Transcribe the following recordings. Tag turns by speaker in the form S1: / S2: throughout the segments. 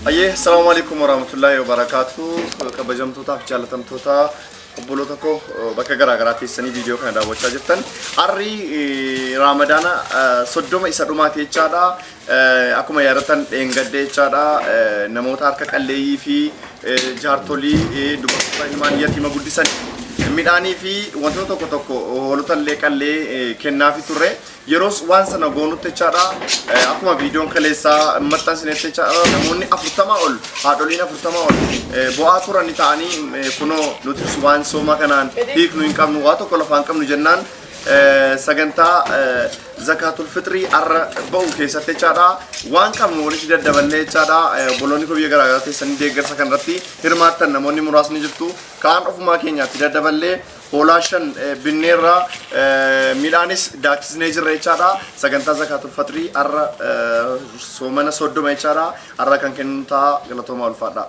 S1: Ayyee, salaamu alaikum warahmatullahi wabarakatuh. Kabajamtootaaf jaalatamtoota obboloota koo eh, bakka garaa garaa teessanii viidiyoo kana daawwachaa jirtan. Arri eh, Raamadaana eh, soddoma isa dhumaati jechaadha. Akkuma yaadattan dheengadde jechaadha namoota harka qalleeyyii fi jaartolii dubartoota ilmaan yatiima guddisan midhaanii fi wantoota tokko tokko hoolota illee qallee kennaafi turre yeroos waan sana goonutti jechaadha akkuma viidiyoon kaleessaa maxxansinetti jechaadha namoonni afurtamaa ol haadholiin afurtamaa ol bu'aa turani ta'anii kunoo nutis waan sooma kanaan hiiknu hin qabnu waa tokko lafaan qabnu jennaan sagantaa zakaatul fixrii arra ba'u keessatti jechaadha waan qabnu walitti daddaballee jechaadha obboloonni koo biyya garaa garaa teessanii deeggarsa kanarratti hirmaattan namoonni muraasni jirtu kaan ofumaa keenyaatti daddaballee hoolaa shan binneerra midhaanis daaksisnee jirra jechaadha sagantaa zakaatul fixrii arra soomana soddoma jechaadha arra kan kennu ta'a galatoomaa ulfaadhaa.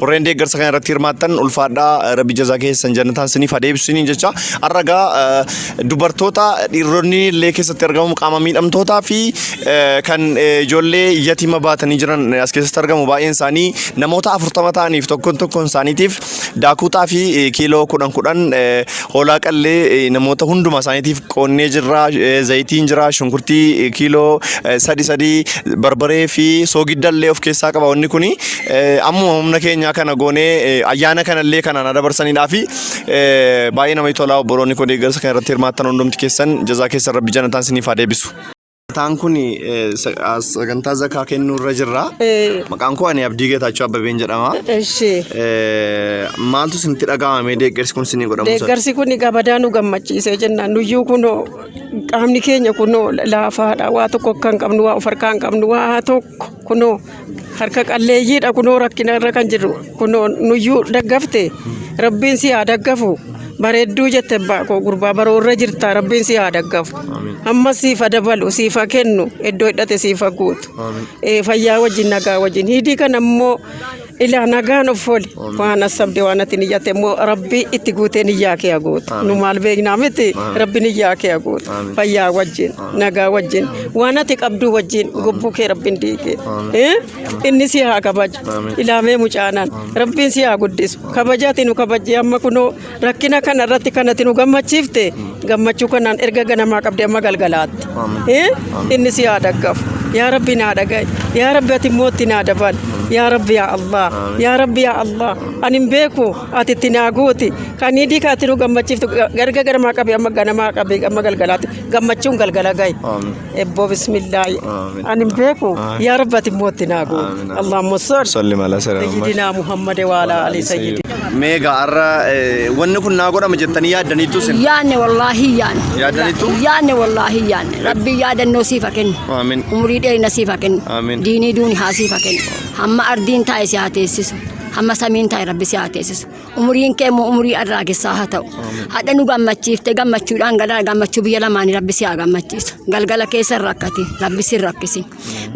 S1: Warreen deeggarsa kana irratti hirmaattan ulfaadhaa rabbi jazaa keessan jannataan siniif adeebsiniin jecha arragaa dubartoota dhiironni illee keessatti argamu qaama miidhamtootaa fi eh, kan eh, ijoollee yatima baatanii jiran eh, as keessatti argamu baay'een isaanii namoota afurtama ta'aniif tokkoon tokkoon isaaniitiif daakuutaa fi eh, kiiloo kudhan kudhan eh, hoolaa qallee eh, namoota hunduma isaaniitiif qoonnee jirra eh, zayitiin jira shunkurtii eh, kiiloo eh, sadi sadi barbaree fi soogidda illee of keessaa qaba wanni kuni Ammuma humna keenyaa kana goonee ayyaana kanallee kanaan adabarsanidhaa fi baay'ee namatti tolaa obboloonni koo deeggarsa kana irratti hirmaattan hundumti keessan jazaa keessan rabbi janataan siniif haa deebisu. Mataan kun sagantaa zakaa kennuu irra jirra. Maqaan koo ani Abdii Geetaachoo Abbabeen jedhama. Eshi. Maaltu isinitti dhaga'amee deeggarsi kun isinii godhamu? Deeggarsi kun gabadaa
S2: nu gammachiisee jenna. Nuyyuu kunoo qaamni keenya kunoo laafaadha. Waa tokko akka hin qabnu, waa of harkaa hin qabnu, waa tokko. Kunoo harka qalleeyyiidha kunoo rakkina irra kan jiru kunoo nuyyuu daggafte rabbiin si haa daggafu bareedduu jette abbaa koo gurbaa baroo irra jirta rabbiin si haa daggafu amma siif ha dabalu siif ha kennu iddoo hidhate siif ha guutu Eh, fayyaa wajjin nagaa wajjin hidii kan ammoo Ilaa nagaan of ooli. Waan asabde waan ati niyyatte immoo rabbi itti guutee niyyaa kee haguutu. Nu maal beeknaa miti rabbi niyyaa kee haguutu. Fayyaa wajjin nagaa wajjin waan ati qabduu wajjin gobbuu kee rabbiin diigee. Eh? Inni si haa kabaju. Ilaamee mucaanaan rabbiin si haa guddisu. Kabajaati nu kabajjee amma kunoo Rakkina kana irratti kan ati nu gammachiifte gammachuu kanaan erga ganamaa qabde amma galgalaatti. Eh? Inni si haa dhaggafu. Yaa Rabbi naa dhaga'i. Yaa Rabbi ati immoo itti naa dabali. Yaa Rabbi yaa Allah. Yaa Rabbi yaa Allah. Ani hin beeku ati itti naa guuti. Kan hidii kan ati nu gammachiiftu erga ganamaa qabe amma ganamaa qabe amma galgalaatti gammachuun galgala ga'i. Ebboo bismillaahi. Amiin. Ani hin beeku. Amiin. Yaa rabbi ati immoo itti naa goote. Amiin. Allahumma salli. Salli mala sirra Muhammad. Sayyidinaa Muhammad wa ala ali sayyidi. Meega har'a
S1: eh, wanni kun naa godhama jettanii yaaddaniittu isin. Yaanne wallaahi yaanne.
S3: Yaadanitu? Yaanne
S1: wallaahi
S3: yaanne. Rabbi yaadannoo siifa kennu. Amiin. Umurii dheerina
S1: siifa
S3: kennu. Amiin. Diinii duuni haa
S1: siifa
S3: kennu. Hamma ardiin taa'e si haa teessisu. Hamma samiin taa'e rabbi si haa teessisu. Umuriin kee immoo umurii arraa keessaa haa ta'u. Hadha nu gammachiifte gammachuudhaan galaa gammachuu biyya lamaanii rabbi si haa gammachiisu. Galgala keessa rakkate rabbi si rakkisi.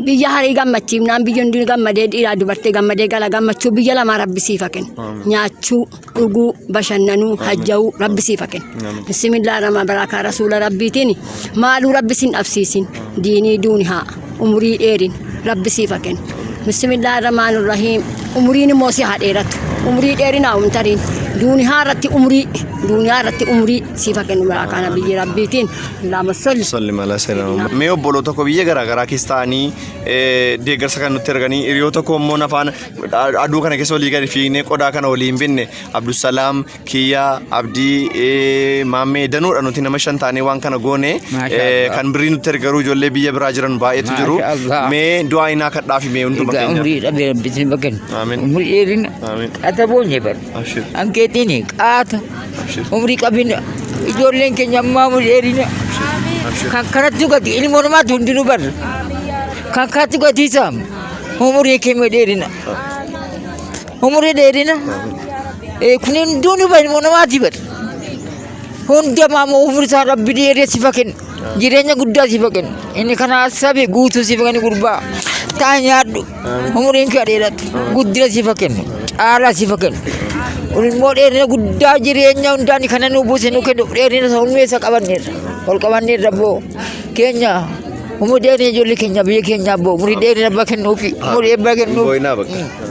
S3: Biyya harii gammachiifnaan biyya hundi gammadee dhiiraa dubartee gammadee gala gammachuu biyya lamaa rabbi siif haa kennu. Nyaachuu, dhuguu, bashannanuu, hajja'uu rabbi siif haa kennu. Bismillah rahmaan baraakaa rasuula rabbiitiin maaluu rabbi sin dhabsiisin. Diinii duuni haa. umurii dheerin rabbi siif haa kennu bismillah rahmaan rahiim umuriin immoo si haa dheeratu umurii dheerinaa umtariin duuniyaa irratti umurii duuniyaa irratti umurii siif haa kennu maraa kana biyyi rabbiitiin laama solli Salli mala seerama. Mee
S1: obboloo tokko biyya garaa garaa keessa ta'anii eh, deeggarsa kan nutti erganii hiriyoo tokko immoo nafaan aduu kana keessa olii gadi fiignee qodaa kana olii hin binne Abdusalaam kiyya abdii eh, maammee danuudha nuti nama shan taanee waan kana goone Maashaa eh, Allah. kan birrii nutti ergaruu ijoollee biyya biraa jiran baay'eetu jiru Maashaa Allah. mee du'aa inaa kadhaafi mee hunduma Egaa keenya umrii dhabee rabbitti hin
S4: bakkan. Amiin. Umrii dheerina.
S1: Amiin.
S4: Qaata boonye
S1: bar.
S4: Abshir. Hanqeetiin qaata. Abshir. Umrii qabina. Ijoolleen keenya ammaa umrii dheerina. Abshir. Kan kanatti gati ilmoon namaatu hundinuu bar. Kan kanatti gatiisaam. Umrii keenya dheerina. Umurii dheerina. Eh, Kun hunduu ni bahe namaati bar. Hunda maamoo umurii isaa rabbi dheeree sifa kenna. Jireenya guddaa sifa kenna. Inni kana sabe guutuu sifa kenna gurbaa. Taa nyaadhu. Umuriin kee dheeradhu. Guddina sifa kenna. Caalaa sifa kenna. Ilmoo dheerina guddaa jireenya hundaa ni kana nuu buuse nuu kennu dheerina isa hundee isa qabanneerra. Ol qabanneerra boo keenya. Umurii dheerina ijoollee keenya biyya keenyaa boo umurii dheerina abbaa kennuufi. Umurii abbaa kennuufi. Boyinaa bakka.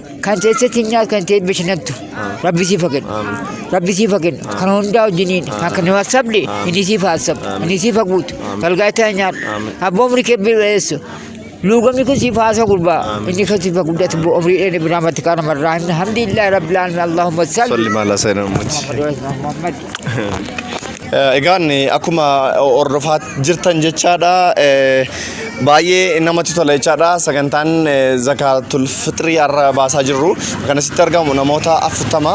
S4: Kan teessee siin nyaatu kan ta'e eebba shanattu. Rabbi siif haa kennu. Rabbi siif haa kennu. Kan hundaa wajjiniin. Kan kan waa sabde inni siif haa sabu. Inni siif haa guutu. Galgaataa haa nyaadhu. Abbaa umrii kee bira dheessu. Luugamni kun siif haa gurbaa. Inni kan siif haa guddatu immoo umrii dheedhe biraa matti kaana marraa himna. Alhamdulillah rabbil alamin Allahumma salli. Salli maala seenaa uummati.
S1: Muhammad. Egaan akkuma hordofaa jirtan jechaadha baay'ee namatti tola jechaadha sagantaan zakaatul fixrii har'a baasaa jirru kan asitti argamu namoota afurtama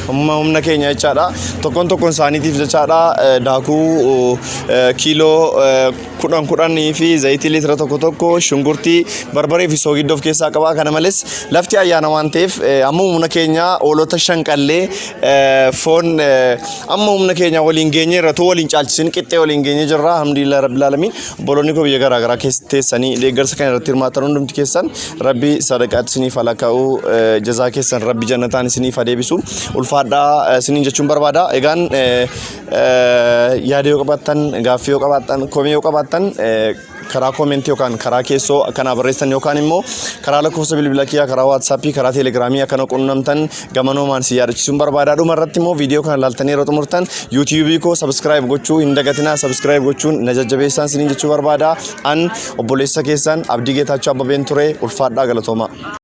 S1: humna humna keenya jechaadha tokkoon tokkoon isaaniitiif jechaadha daakuu kiiloo kudhan kudhanii fi zayitii liitira tokko tokko shunkurtii barbaree fi soogidda of keessaa qaba. Kana malees lafti ayyaana waan ta'eef eh, amma humna keenya hoolota shan qallee eh, foon eh, amma humna keenya waliin geenye irra too waliin caalchisin qixxee waliin geenye jirra. Alhamdulillah rabbil alamin obboloonni koo biyya garaa garaa keessa teessanii deeggarsa kana irratti hirmaatan hundumti keessan rabbi sadaqaatti isiniif haa lakkaa'u eh, jazaa keessan rabbi jannataan isiniif haa deebisu ulfaadhaa eh, isiniin jechuun barbaada. Egaan eh, Yaada yoo qabaattan, gaaffii yoo qabaattan, komii yoo qabaattan karaa koomentii yookaan karaa keessoo akkanaa barreessan yookaan immoo karaa lakkoofsa bilbila kiyyaa, karaa waatsaappii, karaa teelegiraamii akkana qunnamtan gamanoomaan si yaadachiisuun barbaada. Dhuma irratti immoo viidiyoo kana laaltanii yeroo xumurtan yuutiyuubii koo sabiskiraayib gochuu hin dagatinaa sabiskiraayib gochuun na jajjabeessaan siniin jechuu barbaada. An obboleessa keessan Abdii Geetaachoo Abbabeen ture ulfaadhaa galatoomaa.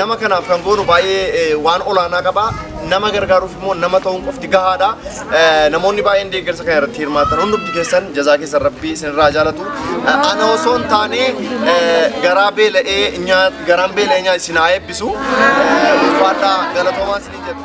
S1: Nama kanaaf kan goonu baay'ee waan olaanaa qaba. Nama gargaaruuf immoo nama ta'uun qofti gahaadha. Namoonni baay'een deeggarsa kana irratti hirmaatan hundumti keessan jazaa keessan rabbii isinirraa jaalatu. Ana osoo hin taane garaa beela'ee nyaat garaan beela'ee nyaat isin haa eebbisu. Ulfaadhaa galatoomaa isin jedhu.